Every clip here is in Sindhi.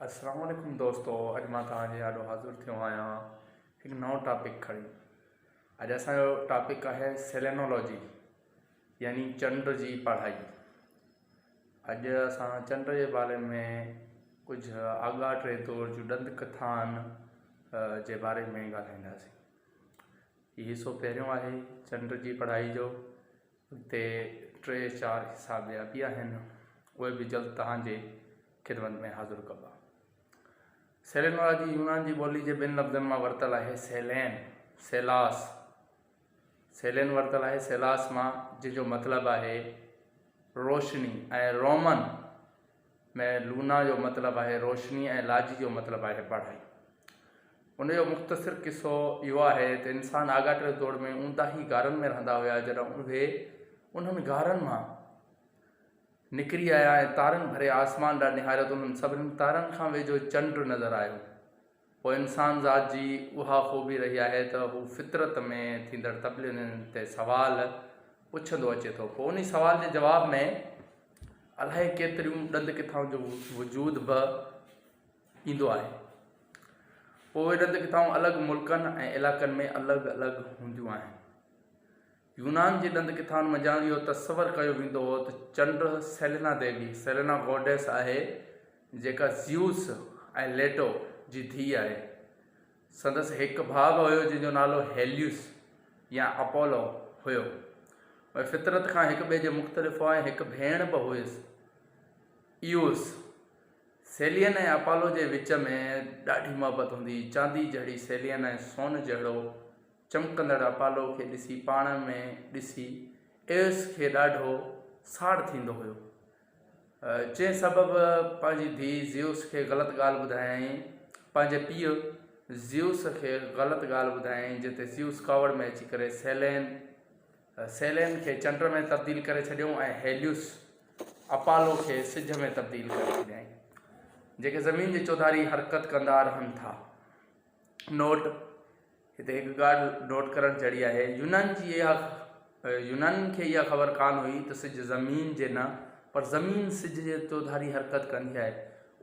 السلام عليڪم دوستو اڄ مان توهان جي آڏو حاضر ٿيو آهيان هڪ نئون ٽاپڪ کڻي اڄ اسان جو ٽاپڪ آهي سيلينولوجي يعني چنڊ جي پڙهائي اڄ اسان چنڊ جي باري ۾ ڪجهه آڳاهه ٽي طور جون ڏند ڪٿان جي باري ۾ ڳالهائينداسين هي حصو پهريون آهي چنڊ جي پڙهائي جو تي ٽي چار حصا ٻيا به آهن، اهي به جلد توهان جي خدمت ۾ حاضر ڪبا. سيلين وارا جي يونان جي ٻولي جي ٻن لفظن مان ورتل آهي سيلين، سيلاس. سيلين ورتل آهي سيلاس مان جنهن جو مطلب آهي روشني ۽ رومن، ۾ لونا جو مطلب آهي روشني ۽ لاجي جو مطلب آهي پڙهائي. ان جو مختصر قصو اهو آهي ته انسان آڳاٽي دور ۾ اونداهي غارن ۾ رهندا هيا جڏهن اهي انهن غارن مان نڪري آيا ۽ تارن ڀري آسمان ڏانهن نهاريو ته انهن سڀني تارن کان ويجهو چنڊ نظر آيو. پوء انسان ذات جي اها خوبي رهي آهي ته هو فطرت ۾ ٿيندڙ تبديلين تي سوال پڇندو اچي ٿو. پوء انهي سوال جي جواب ۾ الائي ڪيتريون ڏند ڪٿائون جو وجود به ايندو آهي. پوء اهي ڏند ڪٿائون الڳ ملڪن ۽ علائقن ۾ الڳ الڳ هونديون آهن. يونان جي ڏند ڪٿائن منجهان اهو تصور ڪيو ويندو هو ته چنڊ سيلينا ديوي، Selena Goddess، آهي، جيڪا زيوس، ۽ ليٽو، جي ڌيء آهي. سندس هڪ ڀاء به هيو جنهن جو نالو هيليوس يا اپولو هيو. اهي فطرت کان هڪ ٻئي جي مختلف هئا ۽ هڪ ڀيڻ به هئس، ايوس. سيلين ۽ اپولو جي وچ ۾ ڏاڍي محبت هوندي هئي. چاندي جهڙي سيلين ۽ سون جهڙو چمڪندڙ اپالو کي ڏسي پاڻ ۾ ڏسي ايوس کي ڏاڍو ساڙ ٿيندو هيو، جنهن سبب پنهنجي ڌيء زيوس کي غلط ڳالهه ٻڌايائين، پنهنجي پيء زيوس کي غلط ڳالهه ٻڌايائين، جنهن تي زيوس ڪاوڙ ۾ اچي ڪري سيلين، Selene، کي چنڊ ۾ تبديل ڪري ڇڏيو ۽ هيليوس، Apollo، کي سج ۾ تبديل ڪري ڇڏيائين، جيڪي زمين جي چوڌاري حرڪت ڪندا رهن ٿا. نوٽ، هتي هڪ ڳالهه نوٽ ڪرڻ جهڙي آهي، يونانين جي اها يونانين کي اها خبر ڪانه هئي ته سج زمين جي نه پر زمين سج جي چوڌاري حرڪت ڪندي آهي.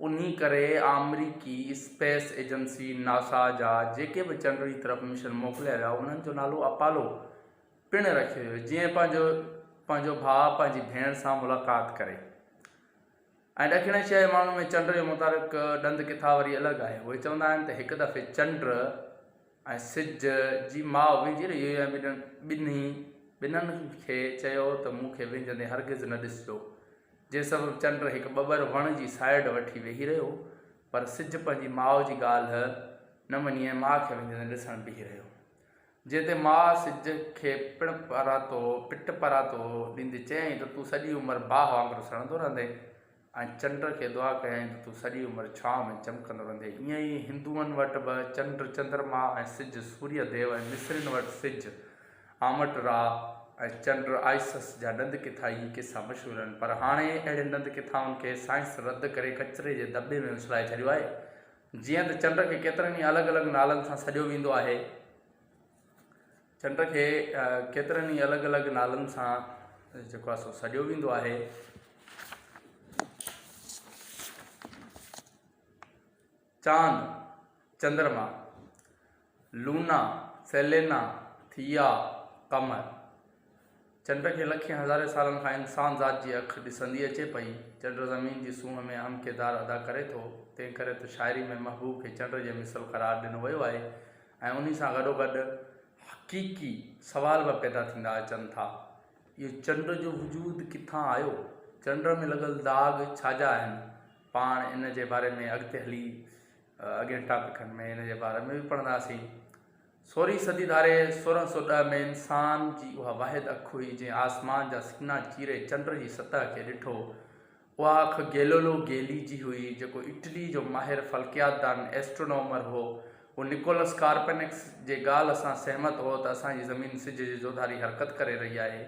انهي ڪري آمريڪي اسپيس ايجنسي ناسا جا جيڪي به چنڊ جي طرف مشن موڪليا ويا انهن جو نالو اپالو پڻ رکيو ويو جيئن پنهنجو پنهنجو ڀاء پنهنجي ڀيڻ سان ملاقات ڪري. ۽ ڏکڻي شيء جي معنون ۾ چنڊ جو متحرڪ ڏند ڪٿا وري الڳ آهي. اهي چوندا آهن ته هڪ دفعي چنڊ ۽ سج جي ماء وينجهيل يويا ٻنهي ٻنهي ٻنن کي چيو ته مون کي وينجهندي هرگز نه ڏسجو. جنهن سبب چنڊ هڪ ٻٻر وڻ جي سائيڊ وٺي ويهي رهيو پر سج پنهنجي ماء جي ڳالهه نه مڃي ۽ ماء کي وينجهندي ڏسڻ بيهي رهيو. جنهن تي ماء سج کي پڻ پراتو پٽ پراتو ڏيندي چيائين ته تون سڄي عمر باهه وانگر سڙندو رهندين ۽ چنڊ کي دعا ڪيائين ته تون سڄي عمر ڇانو ۾ چمڪندو رهندين. ائين ئي هندوئن وٽ به چنڊ چندرما ۽ سج سوريه ديو ۽ مصرين وٽ سج، آمٽ را، ۽ چنڊ، آئسس، جا ڏند ڪٿا ئي قصا مشهور آهن پر هاڻي اهڙين ڏند ڪٿائن کي سائنس رد ڪري ڪچري جي دٻي ۾ اڇلائي ڇڏيو آهي جيئن ته چنڊ کي ڪيترن ئي الڳ الڳ نالن سان سڏيو ويندو آهي. چنڊ کي ڪيترن ئي الڳ الڳ نالن سان جيڪو آهي سو سڏيو ويندو آهي. چاند، چندرما، لونا، سيلينا، ٿيا، قمر. چنڊ کي لکين هزارين سالن کان انسان ذات جي اک ڏسندي اچي پئي. چنڊ زمين جي سونهن ۾ اهم ڪردار ادا ڪري ٿو. تنهن ڪري ته شاعري ۾ محبوب کي چنڊ جي مثل قرار ڏنو ويو آهي ۽ انهي سان گڏوگڏ حقيقي سوال به پيدا ٿيندا اچن ٿا. اهو چنڊ جو وجود ڪٿان آيو؟ چنڊ ۾ لڳل داغ ڇا جا آهن؟ پاڻ ان جي باري ۾ اڳتي هلي اڳين ٽاپڪن ۾ ان جي باري ۾ به پڙهنداسين. سورهين صدي ڌاري سورهن سؤ ڏهه ۾ انسان جي اها واحد اک هئي جنهن آسمان جا سينا چيري چنڊ جي سطح کي ڏٺو. اها اک گيلولو گيلي جي هئي جيڪو اٽلي جو ماهر فلڪيات دان، Astronomer، هو. هو نڪولس ڪارپنڪس جي ڳالهه سان سهمت هو ته اسان جي زمين سج جي جوڌاري حرڪت ڪري رهي آهي.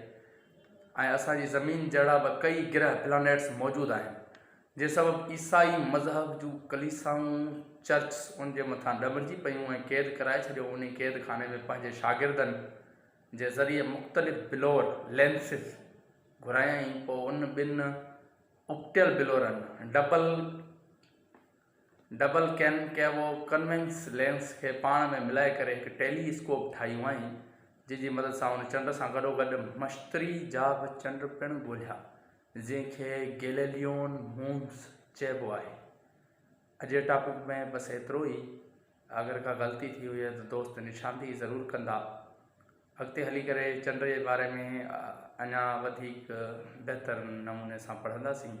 ۽ اسان جي زمين جهڙا به ڪيئي گرهه، Planets، موجود آهن، جنهن سبب عيسائي مذهب جون ڪليسائون، Churchs، ان جي مٿان ڏمرجي پيون ۽ قيد ڪرائي ڇڏيو، انهي قيد خاني ۾ پنهنجي شاگردن جي ذريعي مختلف بلور، Lenses، گهرايائين، پوء ان ٻن اپٽيل بلورن، Double، double concave convex lens کي پاڻ ۾ ملائي ڪري هڪ ٽيلي اسڪوپ ٺاهيون هئائين، جنهن جي مدد سان هن چنڊ سان گڏوگڏ مشتري جا به چنڊ پڻ ڳولهيا، جنهن کي گيليليون مونز چئبو آهي. اجي ٽاپڪ ۾ بس ايترو ئي. اگر ڪا غلطي ٿي هجي ته دوست نشاندهي ضرور ڪندا. اڳتي هلي ڪري چنڊ جي باري ۾ اڃا وڌيڪ بهتر نموني سان پڙهنداسين.